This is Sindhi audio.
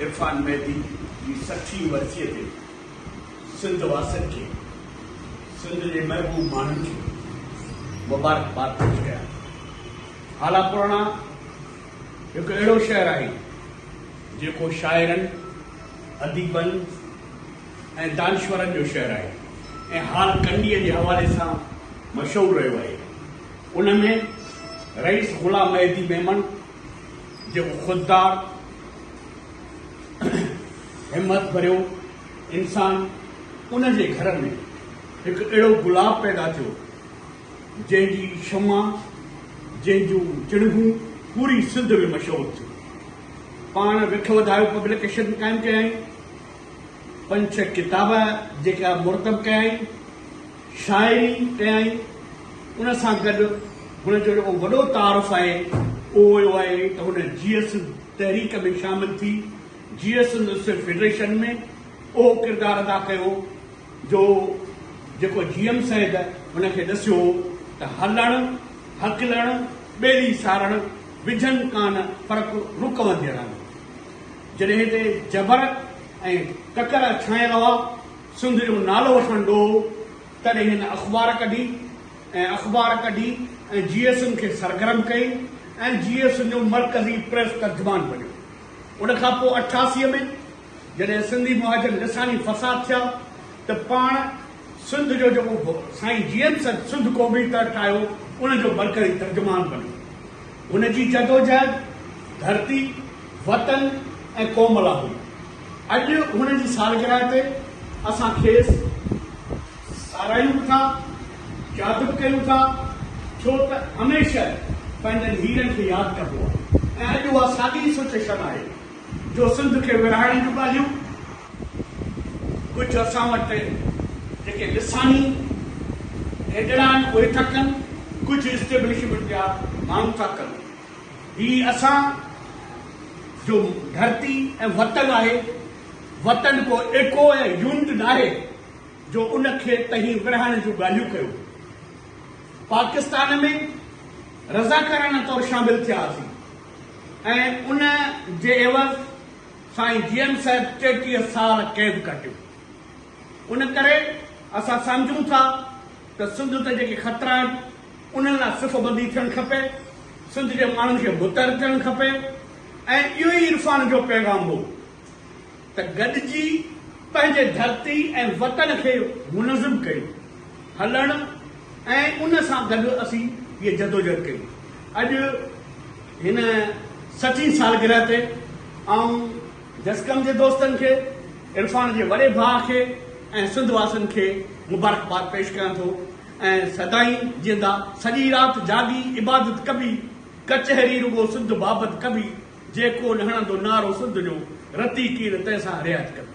عرفان مهدي جي سٺين ورسيء تي سنڌ واسين کي، سنڌ جي محبوب ماڻهن کي مبارڪباد پيش ڪيان ٿو. هالا پراڻا هڪ اهڙو شهر آهي، جيڪو شاعرن، اديبن ۽ دانشورن جو شهر آهي ۽ هال ڪنڊيء جي حوالي سان مشهور رهيو آهي. ان ۾ رئيس غلام مهدي ميمڻ جيڪو خوددار، همت ڀريو انسان ان جي گهر ۾ هڪ اهڙو گلاب پيدا ٿيو جنهن جي شمع جنهن جون چڻگون پوري سنڌ ۾ مشهور ٿيون. پاڻ وک وڌايو پبليڪيشن قائم ڪيائين، پنج ڇهه ڪتاب جيڪا مرتب ڪيائين. شاعري ڪيائين، ان سان گڏ هن جو جيڪو وڏو تعارف آهي اهو اهو آهي ته هن جيئي سنڌ تحريڪ ۾ شامل ٿي جيئي سنڌ اسٽوڊنٽ فيڊريشن ۾ اهو ڪردار ادا ڪيو جو جيڪو جي ايم سيد هن کي ڏسيو هو ته هلڻ هڪلڻ ٻيلي سارڻ وجهن ڪان فرق رڪ ونديڙ آهن جڏهن هتي جبر ۽ ڪڪر ڇانيل هئا سنڌ جو نالو وٺڻ ڏوهه تڏهن هن اخبار ڪڍي ۽ اخبار ڪڍي ۽ جي ايس اين کي سرگرم ڪئي ۽ جي ايس اين جو مرڪزي پريس ترجمان بنيو. ان کان پوء اٺاسي ۾ جڏهن سنڌي مهاجن لساني فساد ٿيا ته پاڻ سنڌ جو جيڪو سائين جي ايم سنڌ ڪوبي تر ٺاهيو ان جو مرڪزي ترجمان بنيو. هن جي جدوجهد ڌرتي، وطن ۽ قوم لا هئي. اڄ هن جي سالگرهه تي اسان کيس ساراهيون به ٿا، ياد به ڪيون ٿا، ڇو ته هميشه پنهنجن هيرن کي ياد ڪبو آهي ۽ اڄ اها ساڳي ئي سچويشن آهي جو سنڌ کي ورهائڻ جون ڳالهيون ڪجهه اسان وٽ جيڪي لساني هيڊڙا آهن اهي ٿا ڪن، ڪجهه اسٽيبلشمينٽ جا ماڻهو ٿا ڪن. هي اسان جو ڌرتي ۽ وطن آهي، وطن ڪو ايڪو يا يونٽ ناهي جو ان کي تهين ورهائڻ جون ڳالهيون ڪيو. پاڪستان ۾ رضاڪارانه طور شامل ٿيا هئاسين. ۽ ان جي عيوض سائين جي ايم صاحب ٽيٽيهه سال قيد ڪٽيو. ان ڪري اسان سمجهون ٿا ته سنڌ تي جيڪي خطرا آهن، انهن لاء صف بندي ٿيڻ کپي، سنڌ جي ماڻهن کي متحد ٿيڻ کپي ۽ اهو ئي عرفان جو پيغام هو. ته گڏجي پنهنجي ڌرتي ۽ وطن کي منظم ڪيو هلڻ ۽ ان سان گڏ اسين هيء جدوجهد ڪئي. اڄ هن سٺين سالگرهه تي آئون جسقم جي دوستن کي، عرفان جي وڏي ڀاء کي ۽ سنڌ واسين کي مبارڪباد پيش ڪريان ٿو ۽ سدائين جيئندا. سڄي رات جاڳي عبادت ڪبي، ڪچهري رڳو سنڌ بابت ڪبي. جيڪو نه هڻندو نعرو سنڌ جو، رتي ڪير تنهن سان رعايت ڪندي.